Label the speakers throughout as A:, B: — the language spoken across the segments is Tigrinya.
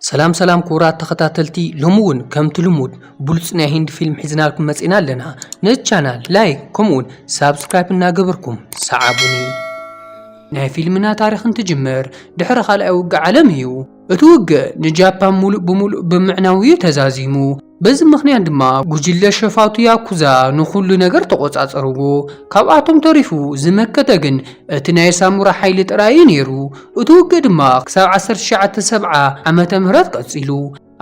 A: ሰላም ሰላም ክቡራት ተኸታተልቲ ሎሚ ውን ከምቲ ልሙድ ብሉጽ ናይ ሂንዲ ፊልም ሒዝናልኩም መጺና ኣለና ነዚ ቻናል ላይክ ከምኡ ውን ሳብስክራይብ እናገበርኩም ሰዓቡኒ ናይ ፊልምና ታሪኽ እንትጅምር ድሕሪ ካልኣይ ውግእ ዓለም እዩ እቲ ውግእ ንጃፓን ሙሉእ ብሙሉእ ብምዕናው እዩ ተዛዚሙ በዚ ምኽንያት ድማ ጉጅለ ሸፋቱ ያኩዛ ንኹሉ ነገር ተቖጻጸርዎ። ካብኣቶም ተሪፉ ዝመከተ ግን እቲ ናይ ሳሙራ ሓይሊ ጥራይ እዩ ነይሩ። እቲ ውግእ ድማ ክሳብ ዓሰርተ ትሽዓተ ሰብዓ ዓመተ ምህረት ቀጺሉ።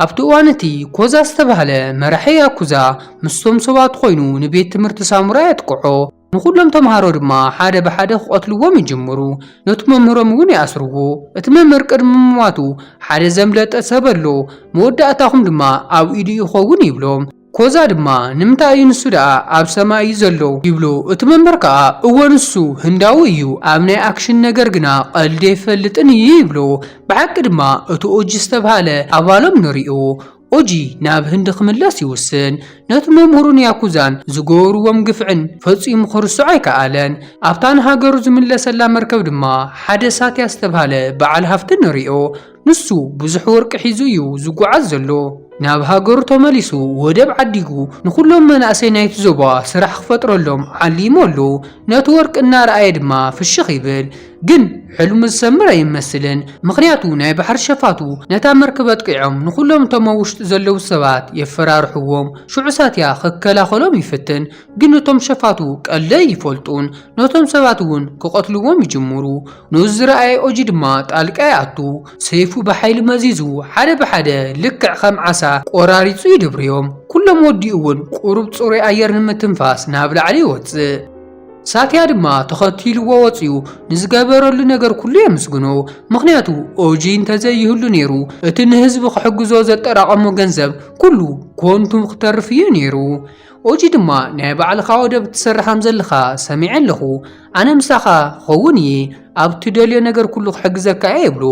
A: ኣብቲ እዋን እቲ፣ ኮዛ ዝተባህለ መራሒ ያኩዛ ምስቶም ሰባቱ ኰይኑ ንቤት ትምህርቲ ሳሙራ የጥቅዖ። ንዅሎም ተምሃሮ ድማ ሓደ ብሓደ ኪቐትልዎም ይጅምሩ፣ ነቲ መምህሮም እውን ይኣስርዎ። እቲ መምህር ቅድሚ ምሟቱ፣ ሓደ ዘምለጠ ሰብ ኣሎ፣ መወዳእታኹም ድማ ኣብ ኢዱ ይኸውን ይብሎም። ኮዛ ድማ፣ ንምንታይ እዩ ንሱ ደኣ ኣብ ሰማይ እዩ ዘሎ ይብሎ፣ እቲ መምህር ከኣ፣ እወ ንሱ ህንዳዊ እዩ፣ ኣብ ናይ ኣክሽን ነገር ግና ቐልዲ ኣይፈልጥን እዩ ይብሎ። ብሓቂ ድማ እቲ ኦጂ ዝተብሃለ ኣባሎም ንርእዮ፣ ኦጂ ናብ ህንዲ ክምለስ ይውስን። ነቲ መምህሩን ያኩዛን ዝገበሩዎም ግፍዕን ፈጺሙ ክርስዖ ኣይከኣለን። ኣብታ ንሃገሩ ዝምለሰላ መርከብ ድማ ሓደ ሳትያ ዝተብሃለ በዓል ሃፍቲ ንሪኦ። ንሱ ብዙሕ ወርቂ ሒዙ እዩ ዝጉዓዝ ዘሎ። ናብ ሃገሩ ተመሊሱ ወደብ ዓዲጉ ንኹሎም መናእሰይ ናይቲ ዞባ ስራሕ ክፈጥረሎም ዓሊሙ ኣሎ። ነቲ ወርቂ እናረኣየ ድማ ፍሽኽ ይብል። ግን ሕልሙ ዝሰምር ኣይመስልን ምኽንያቱ ናይ ባሕሪ ሸፋቱ ነታ መርክብ ኣጥቂዖም ንኹሎም እቶም ኣብ ውሽጢ ዘለዉ ሰባት የፈራርሕዎም ሽዑ ሳትያ ክከላኸሎም ይፍትን ግን እቶም ሸፋቱ ቀልዲ ኣይፈልጡን ነቶም ሰባት እውን ክቐትልዎም ይጅምሩ ነዚ ዝረኣየ ኦጂ ድማ ጣልቃ ይኣቱ ሰይፉ ብሓይሊ መዚዙ ሓደ ብሓደ ልክዕ ከም ዓሳ ቆራሪፁ ይድብርዮም ኩሎም ወዲኡ እውን ቁሩብ ፅሩይ ኣየር ንምትንፋስ ናብ ላዕሊ ይወፅእ። ሳትያ ድማ ተኸቲልዎ ወጺኡ ንዝገበረሉ ነገር ኩሉ የምስግኖ ምኽንያቱ ኦጂ እንተዘይህሉ ነይሩ እቲ ንህዝቢ ክሕግዞ ዘጠራቐሞ ገንዘብ ኩሉ ኮንቱ ክተርፍ እዩ ነይሩ ኦጂ ድማ ናይ ባዕልኻ ወደብ ትሰርሕ ከም ዘለኻ ሰሚዐ ኣለኹ ኣነ ምሳኻ ክኸውን እየ ኣብ ትደልዮ ነገር ኩሉ ክሕግዘካ እየ ይብሎ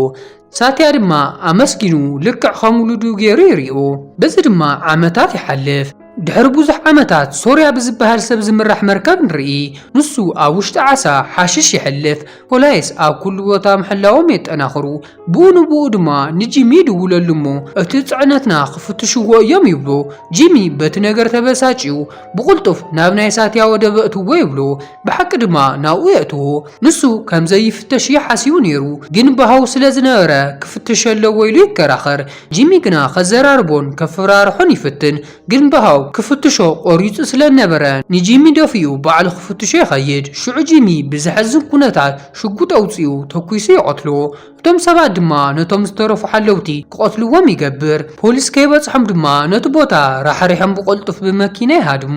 A: ሳትያ ድማ ኣመስጊኑ ልክዕ ኸም ውሉዱ ገይሩ ይሪኦ። በዚ ድማ ዓመታት ይሓልፍ። ድሕሪ ብዙሕ ዓመታት ሶርያ ብዝበሃል ሰብ ዝምራሕ መርከብ ንርኢ። ንሱ ኣብ ውሽጢ ዓሳ ሓሽሽ የሕልፍ። ፖላይስ ኣብ ኩሉ ቦታ ምሕላዎም የጠናኽሩ። ብኡ ንብኡ ድማ ንጂሚ ይድውለሉ እሞ እቲ ፅዕነትና ክፍትሽዎ እዮም ይብሎ። ጂሚ በቲ ነገር ተበሳጭዩ ብቕልጡፍ ናብ ናይ ሳትያ ወደብ ኣእትዎ ይብሎ። ብሓቂ ድማ ናብኡ የእትዎ። ንሱ ከም ዘይፍተሽ እዩ ሓሲቡ ነይሩ፣ ግን ብሃው ስለ ዝነበረ ክፍተሽ ኣለዎ ኢሉ ይከራኸር። ጂሚ ግና ከዘራርቦን ከፍራርሖን ይፍትን፣ ግን ብሃው ክፍትሾ ቆሪጹ ስለ ዝነበረ ንጂሚ ደፊኡ ባዕሉ ክፍትሾ ይኸይድ። ሽዑ ጂሚ ብዘሕዝን ኩነታት ሽጉጥ ኣውጺኡ ተኲሱ ይቐትሎ። እቶም ሰባት ድማ ነቶም ዝተረፉ ሓለውቲ ክቐትልዎም ይገብር። ፖሊስ ከይበጽሖም ድማ ነቲ ቦታ ራሕሪሖም ብቐልጡፍ ብመኪና ይሃድሙ።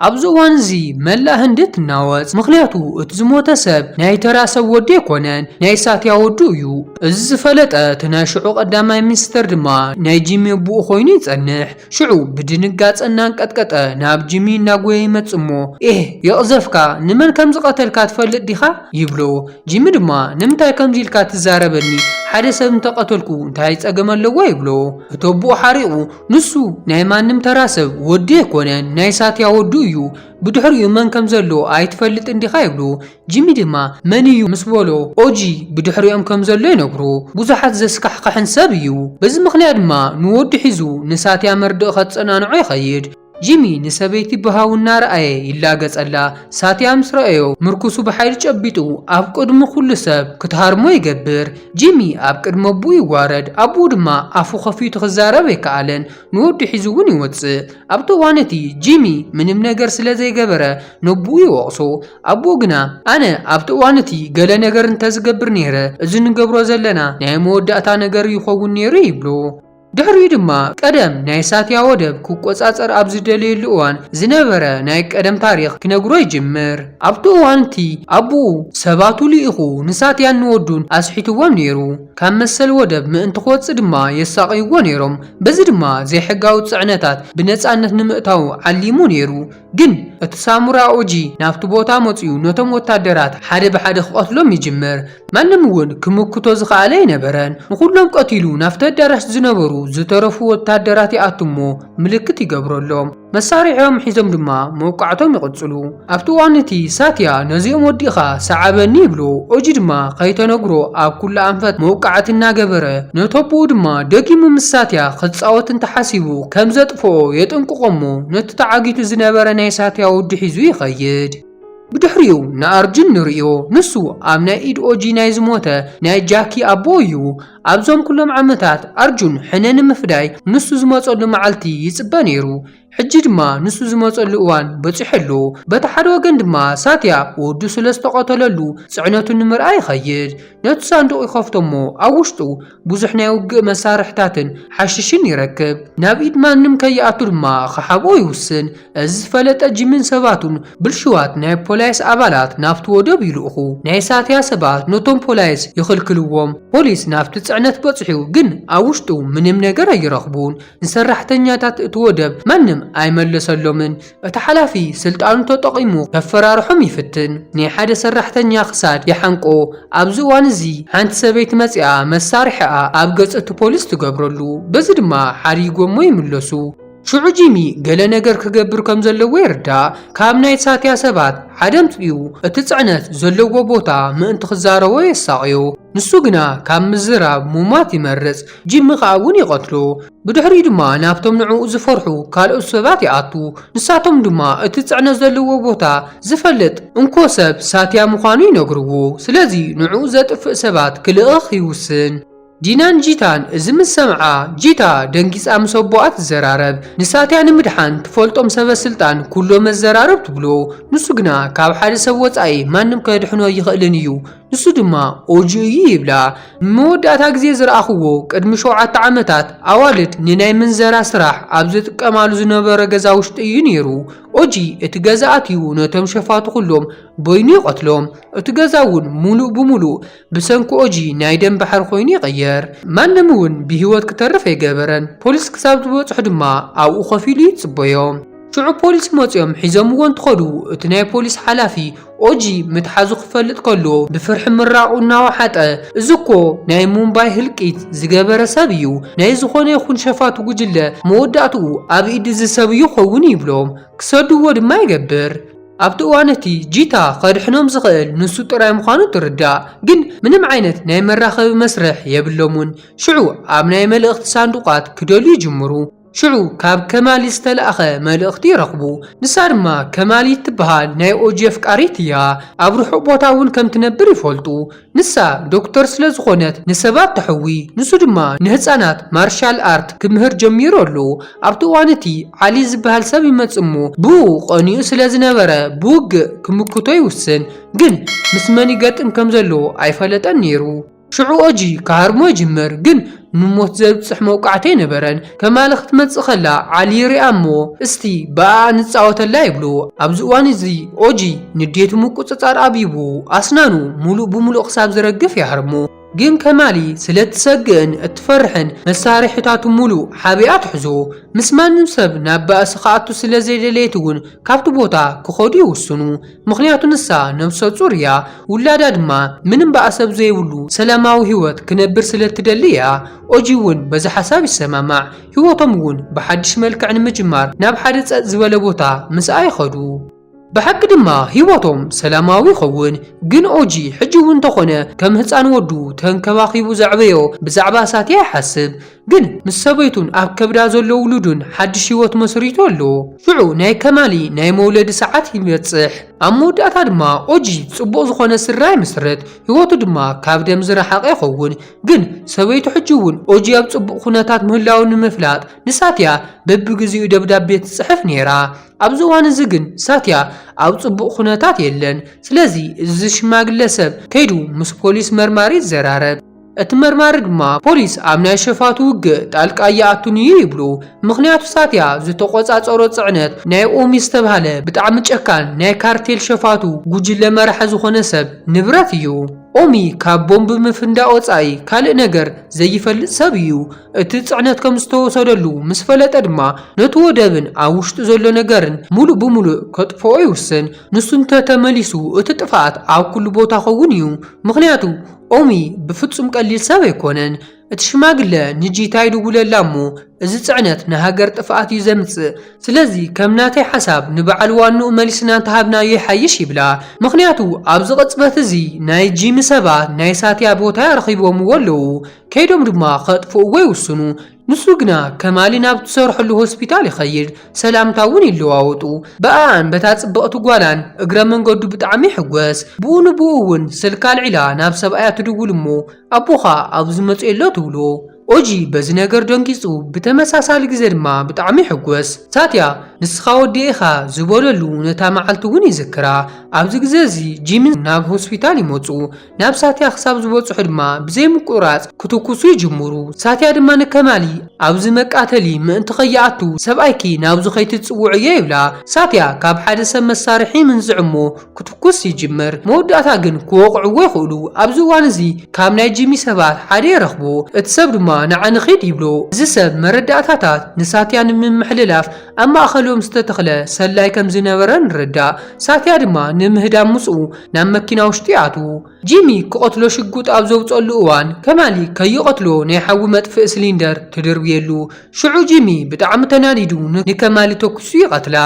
A: ኣብዚ እዋን እዚ መላእ ህንዲ ትናወጽ፣ ምኽንያቱ እቲ ዝሞተ ሰብ ናይ ተራ ሰብ ወዲ ኣይኮነን፣ ናይ ሳትያ ወዱ እዩ። እዚ ዝፈለጠ እቲ ናይ ሽዑ ቀዳማይ ሚኒስተር ድማ ናይ ጂሚ ኣቡኡ ኮይኑ ይጸንሕ። ሽዑ ብድንጋጸ እናንቀጥቀጠ ናብ ጂሚ እናጎየ ይመጽእ እሞ ኤህ የቕዘፍካ ንመን ከም ዝቐተልካ ትፈልጥ ዲኻ? ይብሎ። ጂሚ ድማ ንምንታይ ከምዚ ኢልካ ትዛረበኒ ሓደ ሰብ እንተቐተልኩ እንታይ ጸገም ኣለዎ? ይብሎ። እቲ ኣቡኡ ሓሪቑ ንሱ ናይ ማንም ተራ ሰብ ወዲ ኣይኮነን ናይ ሳትያ ወዱ እዩ ብድሕሪኡ መን ከም ዘሎ ኣይትፈልጥን ዲኻ ይብሉ ጂሚ ድማ መን እዩ ምስ በሎ ኦጂ ብድሕሪኦም ከም ዘሎ ይነግሮ ብዙሓት ዘስካሕኽሕን ሰብ እዩ በዚ ምኽንያት ድማ ንወዱ ሒዙ ንሳትያ መርድእ ከጸናንዖ ይኸይድ ጂሚ ንሰበይቲ ብሃው እናረኣየ ይላገጸላ ሳትያ ምስ ረኣዮ ምርኩሱ ብሓይሊ ጨቢጡ ኣብ ቅድሚ ኩሉ ሰብ ክትሃርሞ ይገብር ጂሚ ኣብ ቅድሚ ኣቡኡ ይዋረድ፣ ኣቡኡ ድማ ኣፉ ከፊቱ ክዛረብ ኣይከኣለን፣ ንወዱ ሒዙ እውን ይወጽእ። ኣብቲ እዋን እቲ፣ ጂሚ ምንም ነገር ስለ ዘይገበረ ነቡኡ ይወቕሶ። ኣቡኡ ግና፣ ኣነ ኣብቲ እዋን እቲ ገለ ነገር እንተ ዝገብር ነይረ፣ እዚ ንገብሮ ዘለና ናይ መወዳእታ ነገር ይኸውን ነይሩ ይብሎ። ድሕሪኡ ድማ ቀደም ናይ ሳትያ ወደብ ክቆጻጸር ኣብ ዝደለየሉ እዋን ዝነበረ ናይ ቀደም ታሪኽ ክነግሮ ይጅምር። ኣብቲ እዋን'ቲ ኣቡኡ ሰባቱ ልኢኹ ንሳትያን ንወዱን ኣስሒትዎም ነይሩ። ካብ መሰል ወደብ ምእንቲ ክወጽእ ድማ የሳቕይዎ ነይሮም። በዚ ድማ ዘይሕጋዊ ጽዕነታት ብነጻነት ንምእታው ዓሊሙ ነይሩ። ግን እቲ ሳሙራ ኡጂ ናብቲ ቦታ መጺኡ ነቶም ወታደራት ሓደ ብሓደ ክቐትሎም ይጅምር። ማንም እውን ክምክቶ ዝኸኣለ ኣይነበረን። ንኹሎም ቀቲሉ ናብቲ ኣዳራሽ ዝነበሩ ዝተረፉ ወታደራት ይኣቱ እሞ ምልክት ይገብረሎም። መሳርሒኦም ሒዞም ድማ መውቃዕቶም ይቕጽሉ። ኣብቲ እዋን እቲ ሳትያ ነዚኦም ወዲእኻ ሰዓበኒ ይብሎ። ኡጂ ድማ ከይተነግሮ ኣብ ኩሉ ኣንፈት መውቃዕቲ እናገበረ ነተቦኡ ድማ ደጊሙ ምስ ሳትያ ክጻወት እንተሓሲቡ ከም ክነድፎ የጠንቅቖ'ሞ ነቲ ተዓጊቱ ዝነበረ ናይ ሳትያ ወዱ ሒዙ ይኸይድ። ብድሕሪኡ ንኣርጁን ንርእዮ፣ ንሱ ኣብ ናይ ኢድ ኦጂ ናይ ዝሞተ ናይ ጃኪ ኣቦ እዩ። ኣብዞም ኩሎም ዓመታት ኣርጁን ሕነ ንምፍዳይ ንሱ ዝመጸሉ መዓልቲ ይጽበ ነይሩ። ሕጂ ድማ ንሱ ዝመጸሉ እዋን በጺሑ ኣሎ። በቲ ሓደ ወገን ድማ ሳትያ ወዱ ስለዝተቐተለሉ ጽዕነቱ ንምርኣይ ይኸይድ። ነቲ ሳንዱቕ ይኸፍቶ'ሞ ኣብ ውሽጡ ብዙሕ ናይ ውግእ መሳርሕታትን ሓሽሽን ይረክብ። ናብ ኢድ ማንም ከይኣቱ ድማ ክሓብኦ ይውስን። እዚ ዝፈለጠ ጂምን ሰባቱን ብልሹዋት ናይ ፖላይስ ኣባላት ናብቲ ወደብ ይልእኹ። ናይ ሳትያ ሰባት ነቶም ፖላይስ ይኽልክልዎም። ፖሊስ ናብቲ ጽዕነት በጽሑ ግን ኣብ ውሽጡ ምንም ነገር ኣይረኽቡን። ንሰራሕተኛታት እቲ ወደብ ማንም ኣይመለሰሎምን። እቲ ሓላፊ ስልጣኑ ተጠቒሙ ከፈራርሖም ይፍትን፣ ናይ ሓደ ሰራሕተኛ ክሳድ ይሓንቆ፣ ኣብዚ እዋን እዚ ሓንቲ ሰበይቲ መጺኣ መሳርሒኣ ኣብ ገጽ እቲ ፖሊስ ትገብረሉ፣ በዚ ድማ ሓሪጎሞ ይምለሱ። ሽዑ ጂሚ ገለ ነገር ክገብር ከም ዘለዎ ይርዳእ፣ ካብ ናይ ሳትያ ሰባት ሓደ ኣምጺኡ እቲ ጽዕነት ዘለዎ ቦታ ምእንቲ ክዛረቦ የሳቕዮ፣ ንሱ ግና ካብ ምዝራብ ምሟት ይመርጽ፣ ጂሚ ከኣ እውን ይቐትሎ። ብድሕሪኡ ድማ ናብቶም ንዕኡ ዝፈርሑ ካልኦት ሰባት ይኣቱ፣ ንሳቶም ድማ እቲ ጽዕነት ዘለዎ ቦታ ዝፈልጥ እንኮ ሰብ ሳትያ ምዃኑ ይነግርዎ። ስለዚ ንዕኡ ዘጥፍእ ሰባት ክልእኽ ይውስን። ዲናን ጂታን እዚ ምስ ሰምዓ፣ ጂታ ደንጊጻ ምስ ኣቦኣ ትዘራረብ። ንሳትያ ንምድሓን ትፈልጦም ሰበስልጣን ኩሎም ኣዘራርብ ትብሎ። ንሱ ግና ካብ ሓደ ሰብ ወጻኢ ማንም ከድሕኖ ኣይኽእልን እዩ። ንሱ ድማ ኦጁ እዩ ይብላ። ንመወዳእታ ግዜ ዝረኣኹዎ ቅድሚ ሸውዓተ ዓመታት ኣዋልድ ንናይ ምንዘራ ስራሕ ኣብ ዝጥቀማሉ ዝነበረ ገዛ ውሽጢ እዩ ነይሩ። ኦጂ እቲ ገዛ ኣትዩ ነቶም ሸፋቱ ኩሎም በይኑ ይቐትሎም። እቲ ገዛ እውን ሙሉእ ብሙሉእ ብሰንኪ ኦጂ ናይ ደም ባሕሪ ኮይኑ ይቐየር። ማንም እውን ብህይወት ክተርፍ ኣይገበረን። ፖሊስ ክሳብ ዝበፅሑ ድማ ኣብኡ ኮፍ ኢሉ ይፅበዮም። ሽዑ ፖሊስ መጺኦም ሒዞምዎ እንትኸዱ እቲ ናይ ፖሊስ ሓላፊ ኦጂ ምትሓዙ ክፈልጥ ከሎ ብፍርሒ ምራቑ እናወሓጠ እዚ እኮ ናይ ሙምባይ ህልቂት ዝገበረ ሰብ እዩ፣ ናይ ዝኾነ ይኹን ሸፋቱ ጉጅለ መወዳእትኡ ኣብ ኢድ እዚ ሰብ እዩ ክኸውን ይብሎም፣ ክሰድዎ ድማ ይገብር። ኣብቲ እዋን እቲ ጂታ ከድሕኖም ዝኽእል ንሱ ጥራይ ምዃኑ ትርዳእ፣ ግን ምንም ዓይነት ናይ መራኸቢ መስርሕ የብሎምን። ሽዑ ኣብ ናይ መልእኽቲ ሳንዱቓት ክደልዩ ይጅምሩ። ሽዑ ካብ ከማል ዝተላእከ መልእኽቲ ይረኽቡ። ንሳ ድማ ከማል እትበሃል ናይ ኦጂ ኣፍቃሪት እያ። ኣብ ርሑቕ ቦታ እውን ከም ትነብር ይፈልጡ። ንሳ ዶክተር ስለ ዝኾነት ንሰባት ተሕዊ፣ ንሱ ድማ ንህጻናት ማርሻል ኣርት ክምህር ጀሚሩ ኣሎ። ኣብቲ እዋን እቲ ዓሊ ዝበሃል ሰብ ይመጽእ እሞ ብእኡ ቀኒኡ ስለ ዝነበረ ብውግእ ክምክቶ ይውስን። ግን ምስ መን ይገጥም ከም ዘለዎ ኣይፈለጠን ነይሩ። ሽዑ ኦጂ ክሃርሞ ይጅምር፣ ግን ንሞት ዘብጽሕ መውቃዕቲ ኣይነበረን። ከማሊ ክትመጽእ ከላ ዓሊ ይርኣ እሞ እስቲ ብኣኣ ንጻወተላ ይብሉ። ኣብዚ እዋን እዚ ኦጂ ንዴቱ ምቁጽጻር ኣብይቡ ኣስናኑ ምሉእ ብምሉእ ክሳብ ዝረግፍ ይሃርሞ። ግን ከማሊ ስለ እትሰግእን እትፈርሕን መሳርሒታቱ ምሉእ ሓቢኣ ትሕዞ። ምስ ማንም ሰብ ናብ ባእሲ ክኣቱ ስለ ዘይደለየት'ውን ካብቲ ቦታ ክኸዱ ይውስኑ። ምኽንያቱ ንሳ ነብሰ ጹር እያ፣ ውላዳ ድማ ምንም ባእሰብ ዘይብሉ ሰላማዊ ህይወት ክነብር ስለ እትደሊ እያ። ኦጂ እውን በዚ ሓሳብ ይሰማማዕ። ህይወቶም እውን ብሓድሽ መልክዕ ንምጅማር ናብ ሓደ ጸጥ ዝበለ ቦታ ምስኣ ይኸዱ። ብሓቂ ድማ ህይወቶም ሰላማዊ ይኸውን። ግን ኦጂ ሕጂ እውን እንተኾነ ከም ህጻን ወዱ ተንከባኺቡ ዘዕበዮ ብዛዕባ ሳትያ ይሓስብ። ግን ምስ ሰበይቱን ኣብ ከብዳ ዘሎ ውሉዱን ሓድሽ ህይወት መስሪቱ ኣሎ። ሽዑ ናይ ከማሊ ናይ መውለዲ ሰዓት ይበጽሕ። ኣብ መወዳእታ ድማ ኦጂ ጽቡቕ ዝኾነ ስድራ ይምስርት፣ ህይወቱ ድማ ካብ ደም ዝረሓቐ ይኸውን። ግን ሰበይቱ ሕጂ እውን ኦጂ ኣብ ጽቡቕ ኩነታት ምህላዉ ንምፍላጥ ንሳትያ በብግዜኡ ደብዳቤ ትጽሕፍ ነይራ። ኣብዚ እዋን እዚ ግን ሳትያ ኣብ ጽቡቕ ኩነታት የለን። ስለዚ እዚ ሽማግለ ሰብ ከይዱ ምስ ፖሊስ መርማሪ ይዘራረብ። እቲ መርማሪ ድማ ፖሊስ ኣብ ናይ ሸፋቱ ውግእ ጣልቃ ኣይኣቱን እዩ ይብሉ ምኽንያቱ ሳትያ ዝተቖጻጸሮ ጽዕነት ናይ ኦሚ ዝተብሃለ ብጣዕሚ ጨካን ናይ ካርቴል ሸፋቱ ጉጅለ መራሒ ዝኾነ ሰብ ንብረት እዩ። ኦሚ ካብ ቦምብ ምፍንዳእ ወጻኢ ካልእ ነገር ዘይፈልጥ ሰብ እዩ። እቲ ጽዕነት ከም ዝተወሰደሉ ምስ ፈለጠ ድማ ነቲ ወደብን ኣብ ውሽጡ ዘሎ ነገርን ምሉእ ብምሉእ ከጥፍኦ ይውስን። ንሱ እንተ ተመሊሱ እቲ ጥፍኣት ኣብ ኩሉ ቦታ ከውን እዩ ምኽንያቱ ኦሚ ብፍጹም ቀሊል ሰብ ኣይኮነን እቲ ሽማግለ ንጂታ ይድውለላ እሞ እዚ ጽዕነት ንሃገር ጥፍኣት እዩ ዘምጽእ ስለዚ ከም ናተይ ሓሳብ ንበዓል ዋንኡ መሊስና እንተሃብናዮ ይሓይሽ ይብላ ምኽንያቱ ኣብዚ ቅጽበት እዚ ናይ ጂሚ ሰባት ናይ ሳትያ ቦታ ኣረኪቦምዎ ኣለዉ ከይዶም ድማ ከጥፍእዎ ይውስኑ ንሱ ግና ከማሊ ናብ ትሰርሐሉ ሆስፒታል ይኸይድ፣ ሰላምታ እውን ይለዋወጡ። ብኣኣን በታ ጽብቕቲ ጓላን እግረ መንገዱ ብጣዕሚ ይሕጐስ። ብኡ ንብኡ እውን ስልኪ ኣልዒላ ናብ ሰብኣያ ትድውል እሞ ኣቦኻ ኣብዚ መጺኡ ኣሎ ትብሎ። ኦጂ በዚ ነገር ደንጊጹ ብተመሳሳሊ ግዘ ድማ ብጣዕሚ ይሕጐስ። ሳትያ ንስኻ ወደይ ኢኻ ዝበለሉ ነታ መዓልቲ እውን ይዝክራ። ኣብዚ ግዘ እዚ ጂምን ናብ ሆስፒታል ይመጹ። ናብ ሳትያ ክሳብ ዝበጽሑ ድማ ብዘይምቁርራጽ ክትኩሱ ይጅምሩ። ሳትያ ድማ ንከማሊ ኣብዚ መቃተሊ ምእንቲ ከይኣቱ ሰብኣይኪ ናብዚ ከይትጽውዕዮ ይብላ። ሳትያ ካብ ሓደ ሰብ መሳርሒ ይምንዝዕ እሞ ክትኩስ ይጅምር። መወዳእታ ግን ክወቕዕዎ ይኽእሉ። ኣብዚ እዋን እዚ ካብ ናይ ጂሚ ሰባት ሓደ ይረኽቦ። እቲ ሰብ ድማ ንዓ ንኺድ ይብሎ። እዚ ሰብ መረዳእታታት ንሳትያ ንምምሕልላፍ ኣብ ማእከሎም ዝተተኽለ ሰላይ ከም ዝነበረ ንርዳእ። ሳትያ ድማ ንምህዳም ምጽኡ ናብ መኪና ውሽጢ ይኣትዉ። ጂሚ ክቐትሎ ሽጉጥ ኣብ ዘውጽኣሉ እዋን፣ ከማሊ ከይቐትሎ ናይ ሓዊ መጥፍኢ ስሊንደር ትድርብየሉ። ሽዑ ጂሚ ብጣዕሚ ተናዲዱ ንከማሊ ተኲሱ ይቐትላ።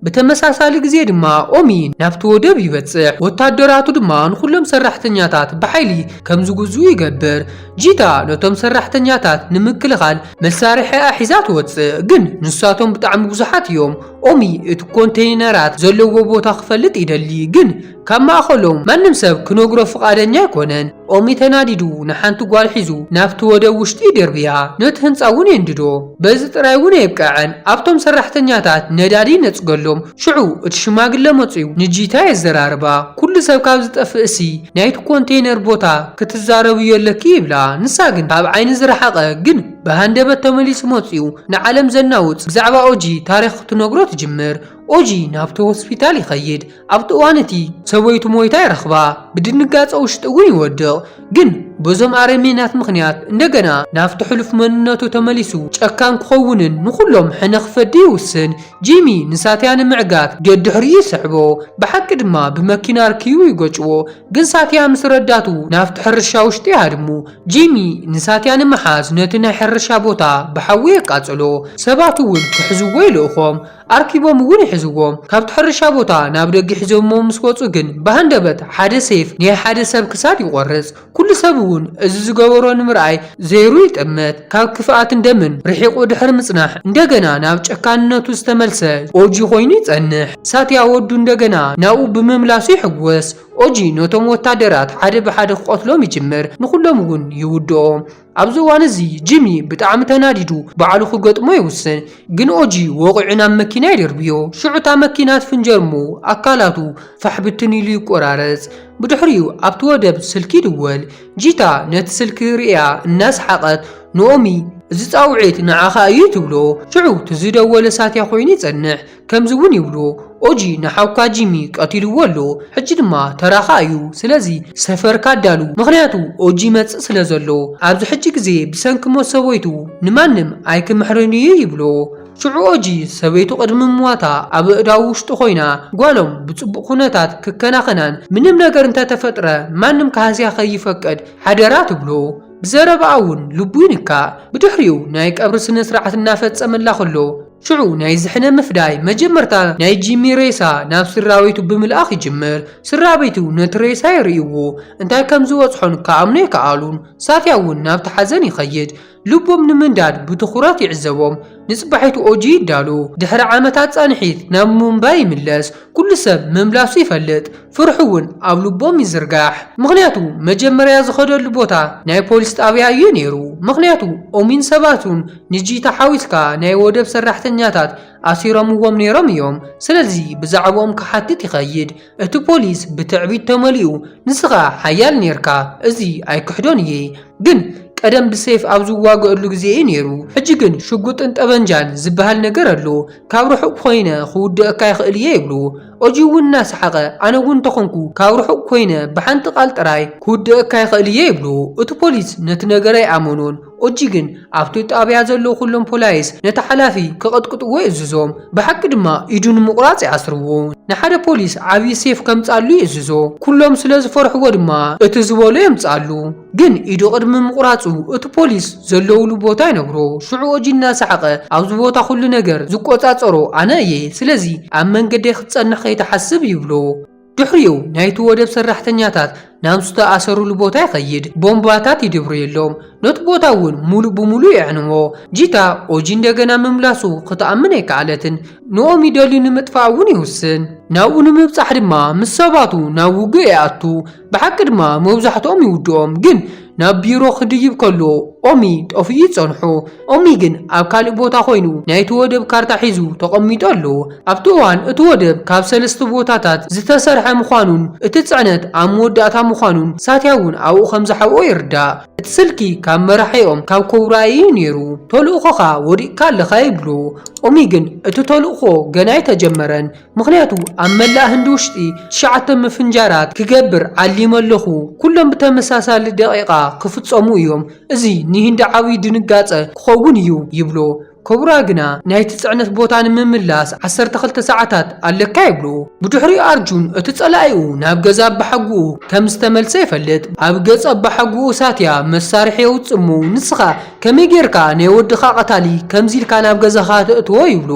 A: ብተመሳሳሊ ግዜ ድማ ኦሚ ናብቲ ወደብ ይበጽሕ፣ ወታደራቱ ድማ ንኹሎም ሰራሕተኛታት ብሓይሊ ከም ዝግዝኡ ይገብር። ጂታ ነቶም ሰራሕተኛታት ንምክልኻል መሳርሒኣ ሒዛ ትወጽእ፣ ግን ንሳቶም ብጣዕሚ ብዙሓት እዮም። ኦሚ እቲ ኮንተይነራት ዘለዎ ቦታ ክፈልጥ ይደሊ፣ ግን ካብ ማእከሎም ማንም ሰብ ክነግሮ ፍቓደኛ ኣይኮነን። ኦሚ ተናዲዱ ንሓንቲ ጓል ሒዙ ናብቲ ወደብ ውሽጢ ይድርብያ፣ ነቲ ህንጻ እውን የንድዶ። በዚ ጥራይ እውን ኣየብቅዐን፣ ኣብቶም ሰራሕተኛታት ነዳዲ ይነጽገሎም፣ ሽዑ እቲ ሽማግለ መጺኡ ንጂታ የዘራርባ። ኩሉ ሰብ ካብ ዝጠፍእሲ ናይቲ ኮንተይነር ቦታ ክትዛረብዮ ኣለኪ ይብላ፣ ንሳ ግን ካብ ዓይኒ ዝረሓቐ ግን። ብሃንደበት ተመሊሱ መጺኡ ንዓለም ዘናውጽ ብዛዕባ ኦጂ ታሪኽ ክትነግሮ ትጅምር። ኦጂ ናብቲ ሆስፒታል ይኸይድ። ኣብቲ እዋን እቲ ሰበይቱ ሞይታ ይረኽባ። ብድንጋጸ ውሽጡ እውን ይወድቕ። ግን በዞም ኣረሜናት ምኽንያት እንደገና ናብቲ ሕሉፍ መንነቱ ተመሊሱ ጨካን ክኸውንን ንኹሎም ሕነ ክፈዲ ይውስን። ጂሚ ንሳትያ ንምዕጋት ደድሕሪኡ ይስሕቦ። ብሓቂ ድማ ብመኪና ኣርኪቡ ይገጭዎ። ግን ሳትያ ምስ ረዳቱ ናብቲ ሕርሻ ውሽጢ ይሃድሙ። ጂሚ ንሳትያ ንምሓዝ ነቲ ናይ ሕርሻ ቦታ ብሓዊ የቃጽሎ፣ ሰባት እውን ክሕዝዎ ይልእኾም፣ ኣርኪቦም እውን ይሕዝዎም። ካብቲ ሕርሻ ቦታ ናብ ደገ ሒዞምዎ ምስ ወጹ ግን ብሃንደበት ሓደ ሴፍ ናይ ሓደ ሰብ ክሳድ ይቖርጽ። ኩሉ ሰብ እውን እዚ ዝገበሮ ንምርኣይ ዘይሩ ይጥምት። ካብ ክፍኣትን ደምን ርሒቑ ድሕሪ ምጽናሕ እንደገና ናብ ጨካንነቱ ዝተመልሰ ኦጂ ኮይኑ ይጸንሕ። ሳትያ ወዱ እንደገና ናብኡ ብምምላሱ ይሕጎስ። ኦጂ ነቶም ወታደራት ሓደ ብሓደ ክቐትሎም ይጅምር፣ ንኹሎም እውን ይውድኦም። ኣብዚ እዋን እዚ ጂሚ ብጣዕሚ ተናዲዱ ባዕሉ ክገጥሞ ይውስን፣ ግን ኦጂ ወቒዑ ናብ መኪና ይድርብዮ። ሽዑ እታ መኪና ትፍንጀር እሞ ኣካላቱ ፋሕ ብትን ኢሉ ይቆራረጽ። ብድሕሪኡ ኣብቲ ወደብ ስልኪ ይድወል። ጂታ ነቲ ስልኪ ርእያ እናሰሓቐት ንኦሚ እዚ ጻውዒት ንዓኻ እዩ ትብሎ። ሽዑ እቲ ዝደወለ ሳትያ ኮይኑ ይጸንሕ። ከምዚ እውን ይብሉ ኦጂ ንሓውካ ጂሚ ቀቲልዎ ኣሎ ሕጂ ድማ ተራኻ እዩ ስለዚ ሰፈርካ ኣዳሉ ምኽንያቱ ኦጂ ይመጽእ ስለ ዘሎ ኣብዚ ሕጂ ግዜ ብሰንኪ ሞት ሰበይቱ ንማንም ኣይክምሕርን እዩ ይብሎ ሽዑ ኦጂ ሰበይቱ ቅድሚ ምሟታ ኣብ ኣእዳው ውሽጡ ኮይና ጓሎም ብጽቡቕ ኩነታት ክከናኸናን ምንም ነገር እንተተፈጥረ ማንም ክሃስያ ከይፈቅድ ሓደራ ትብሎ ብዘረባኣ እውን ልቡ ይንካእ ብድሕሪኡ ናይ ቀብሪ ስነስርዓት እናፈጸመላ ከሎ ሽዑ ናይ ዝሕነ ምፍዳይ መጀመርታ ናይ ጂሚ ሬሳ ናብ ስድራቤቱ ብምልኣኽ ይጅምር። ስድራቤቱ ነቲ ሬሳ ይርእይዎ፣ እንታይ ከም ዝበጽሖን ክኣምኑ ኣይከኣሉን። ሳትያ እውን ናብቲ ሓዘን ይኸይድ፣ ልቦም ንምንዳድ ብትኹረት ይዕዘቦም። ንጽባሒቱ ኦጂ ይዳሎ፣ ድሕሪ ዓመታት ጻንሒት ናብ ሙምባይ ይምለስ። ኩሉ ሰብ ምምላሱ ይፈልጥ፣ ፍርሑ እውን ኣብ ልቦም ይዝርጋሕ። ምኽንያቱ መጀመርያ ዝኸደሉ ቦታ ናይ ፖሊስ ጣብያ እዩ ነይሩ፣ ምኽንያቱ ኦሚን ሰባቱን ንጂታ ሓዊስካ ናይ ወደብ ሰራሕተኛታት ኣሲሮምዎም ነይሮም እዮም ስለዚ ብዛዕብኦም ክሓትት ይኸይድ እቲ ፖሊስ ብትዕቢት ተመሊኡ ንስኻ ሓያል ነይርካ እዚ ኣይክሕዶን እየ ግን ቀደም ብሴፍ ኣብ ዝዋገእሉ ግዜ እዩ ነይሩ ሕጂ ግን ሽጉጥን ጠበንጃን ዝብሃል ነገር ኣሎ ካብ ርሑቅ ኮይነ ክውድእካ ይኽእል እየ ይብሉ ኦጂ እውን እናሰሓቀ ኣነ እውን እንተኾንኩ ካብ ርሑቅ ኮይነ ብሓንቲ ቃል ጥራይ ክውድእካ ይኽእል እየ ይብሉ እቲ ፖሊስ ነቲ ነገር ኣይኣመኖን ኦጂ ግን ኣብቲ ጣብያ ዘለዉ ኩሎም ፖላይስ ነቲ ሓላፊ ክቕጥቅጥዎ ይእዝዞም ብሓቂ ድማ ኢዱ ንምቑራጽ ይኣስርዎ ንሓደ ፖሊስ ዓብዪ ሴፍ ከምጽኣሉ ይእዝዞ ኩሎም ስለ ዝፈርሕዎ ድማ እቲ ዝበሎ የምጽኣሉ ግን ኢዱ ቅድሚ ምቑራጹ እቲ ፖሊስ ዘለዉሉ ቦታ ይነግሮ ሽዑ ኦጂ እናሰሓቐ ኣብዚ ቦታ ኩሉ ነገር ዝቆጻጸሮ ኣነ እየ ስለዚ ኣብ መንገደይ ክትጸንሕ ከይትሓስብ ይብሎ ድሕሪኡ ናይቲ ወደብ ሰራሕተኛታት ናብ ዝተኣሰሩሉ ቦታ ይኸይድ፣ ቦምባታት ይድርብየሎም፣ ነቲ ቦታ እውን ምሉእ ብምሉእ የዕንዎ። ጂታ ኦጂ እንደገና ምምላሱ ክትኣምን ኣይከኣለትን፣ ንኦሚ ደልዩ ንምጥፋእ እውን ይውስን። ናብኡ ንምብጻሕ ድማ ምስ ሰባቱ ናብ ውግእ ይኣቱ፣ ብሓቂ ድማ መብዛሕትኦም ይውድኦም፣ ግን ናብ ቢሮ ክድይብ ከሎ ኦሚ ጠፊኡ ጸንሑ። ኦሚ ግን ኣብ ካልእ ቦታ ኮይኑ ናይቲ ወደብ ካርታ ሒዙ ተቐሚጡ ኣሎ። ኣብቲ እዋን እቲ ወደብ ካብ ሰለስተ ቦታታት ዝተሰርሐ ምዃኑን እቲ ጽዕነት ኣብ መወዳእታ ምዃኑን ሳትያ እውን ኣብኡ ከም ዝሓብኦ ይርዳእ። እቲ ስልኪ ካብ መራሒኦም ካብ ኮብራ እዩ ነይሩ። ተልእኾኻ ወዲቕካ ኣለኻ ይብሎ። ኦሚ ግን እቲ ተልእኾ ገና ኣይተጀመረን። ምኽንያቱ ኣብ መላእ ህንዲ ውሽጢ ትሽዓተ ምፍንጃራት ክገብር ዓሊመ ኣለኹ፣ ኩሎም ብተመሳሳሊ ደቒቓ ክፍጸሙ እዮም፣ እዚ ንህንዲ ዓብዪ ድንጋጸ ክኸውን እዩ ይብሎ። ኮብራ ግና ናይቲ ጽዕነት ቦታ ንምምላስ ዓሰርተ ክልተ ሰዓታት ኣለካ ይብሎ። ብድሕሪኡ ኣርጁን እቲ ጸላኢኡ ናብ ገዛ ኣባሓጎኡ ከም ዝተመልሰ ይፈልጥ። ኣብ ገጽ ኣባሓጎኡ ሳትያ መሳርሒ የውጽእ እሞ ንስኻ ከመይ ጌርካ ናይ ወድኻ ቀታሊ ከምዚ ኢልካ ናብ ገዛኻ ተእትዎ ይብሎ።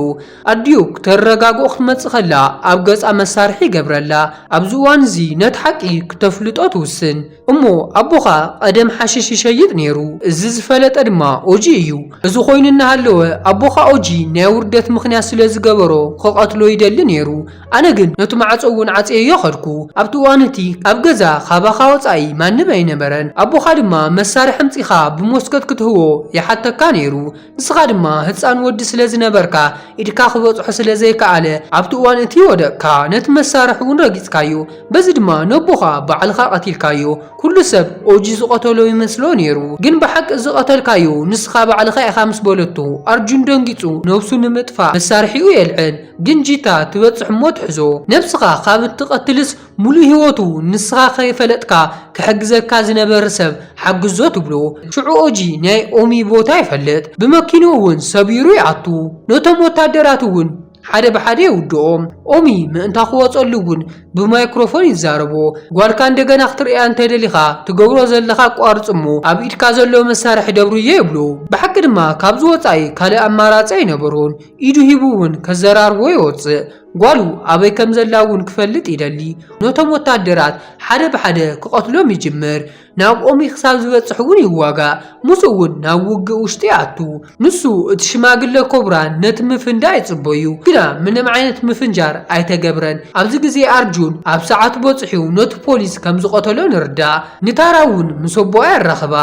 A: ኣዲኡ ክተረጋግኦ ክትመጽእ ከላ ኣብ ገጻ መሳርሒ ይገብረላ። ኣብዚ እዋን እዚ ነቲ ሓቂ ክተፍልጦ ትውስን። እሞ ኣቦኻ ቐደም ሓሽሽ ይሸይጥ ነይሩ። እዚ ዝፈለጠ ድማ ኦጂ እዩ። እዚ ኾይኑ እናሃለወ ኣቦኻ ኦጂ ናይ ውርደት ምኽንያት ስለ ዝገበሮ ክቐትሎ ይደሊ ነይሩ። ኣነ ግን ነቲ ማዕጾ እውን ዓጽየዮ ከድኩ። ኣብቲ እዋን እቲ ኣብ ገዛ ካባኻ ወጻኢ ማንም ኣይነበረን። ኣቦኻ ድማ መሳርሒ ኣምጺኻ ብሞስኮት ክትህቦ ይሓተካ ነይሩ። ንስኻ ድማ ህጻን ወዲ ስለ ዝነበርካ ኢድካ ክበጽሖ ስለ ዘይከኣለ ኣብቲ እዋን እቲ ወደቕካ፣ ነቲ መሳርሒ እውን ረጊጽካዮ፣ በዚ ድማ ነቦኻ ባዕልኻ ቀቲልካዮ። ኩሉ ሰብ ኦጂ ዝቐተሎ ይመስሎ ነይሩ፣ ግን ብሓቂ እዚ ዝቐተልካዮ ንስኻ ባዕልኻ ኢኻ ምስ በለቶ፣ ኣርጁን ደንጊጹ ነብሱ ንምጥፋእ መሳርሒኡ የልዕል፣ ግን ጂታ ትበጽሕ እሞ ትሕዞ። ነብስኻ ካብ እትቐትልስ ሙሉእ ሂወቱ ንስኻ ከይፈለጥካ ክሕግዘካ ዝነበር ሰብ ሓግዞ ትብሎ ሽዑ ኦጂ ናይ ኦሚ ቦታ ይፈልጥ ብመኪንኡ እውን ሰቢሩ ይኣቱ ነቶም ወታደራት እውን ሓደ ብሓደ የውድኦም ኦሚ ምእንታ ክወፀሉ እውን ብማይክሮፎን ይዛረቦ ጓልካ እንደገና ክትርእያ እንተደሊኻ ትገብሮ ዘለኻ ኣቋርፅ እሞ ኣብ ኢድካ ዘሎ መሳርሒ ደብርዮ ይብሎ ብሓቂ ድማ ካብዚ ወፃኢ ካልእ ኣማራፂ ኣይነበሮን ኢዱ ሂቡ እውን ከዘራርቦ ይወፅእ ጓሉ ኣበይ ከም ዘላ እውን ክፈልጥ ይደሊ። ነቶም ወታደራት ሓደ ብሓደ ክቐትሎም ይጅምር። ናብ ኦሚ ክሳብ ዝበጽሕ እውን ይዋጋእ፣ ምስኡ እውን ናብ ውግእ ውሽጢ ይኣቱ። ንሱ እቲ ሽማግለ ኮብራ ነቲ ምፍንዳእ ይጽበዩ፣ ግና ምንም ዓይነት ምፍንጃር ኣይተገብረን። ኣብዚ ግዜ ኣርጁን ኣብ ሰዓቱ በጽሑ ነቲ ፖሊስ ከም ዝቐተሎ ንርዳእ። ንታራ እውን ምስ ኣቦኣ የራኽባ።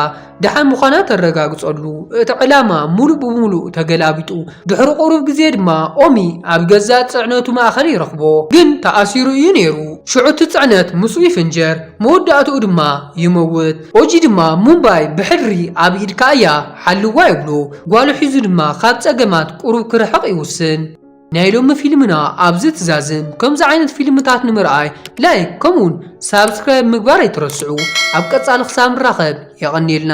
A: ደሓን ምዃና ተረጋግጸሉ። እቲ ዕላማ ምሉእ ብምሉእ ተገላቢጡ። ድሕሪ ቁሩብ ግዜ ድማ ኦሚ ኣብ ገዛእ ጽዕነቱ ማእከል ይረኽቦ። ግን ተኣሲሩ እዩ ነይሩ። ሽዑ እቲ ጽዕነት ምስኡ ይፍንጀር፣ መወዳእትኡ ድማ ይመውት። ኦጂ ድማ ሙምባይ ብሕድሪ ኣብ ኢድካ እያ፣ ሓልዋ ይብሎ። ጓሉ ሒዙ ድማ ካብ ጸገማት ቁሩብ ክርሕቕ ይውስን። ናይ ሎሚ ፊልምና ኣብዚ ትዛዝም ከምዚ ዓይነት ፊልምታት ንምርኣይ ላይክ ከምኡውን ሳብስክራይብ ምግባር ኣይትረስዑ ኣብ ቀጻሊ ክሳብ ንራኸብ የቐንየልና።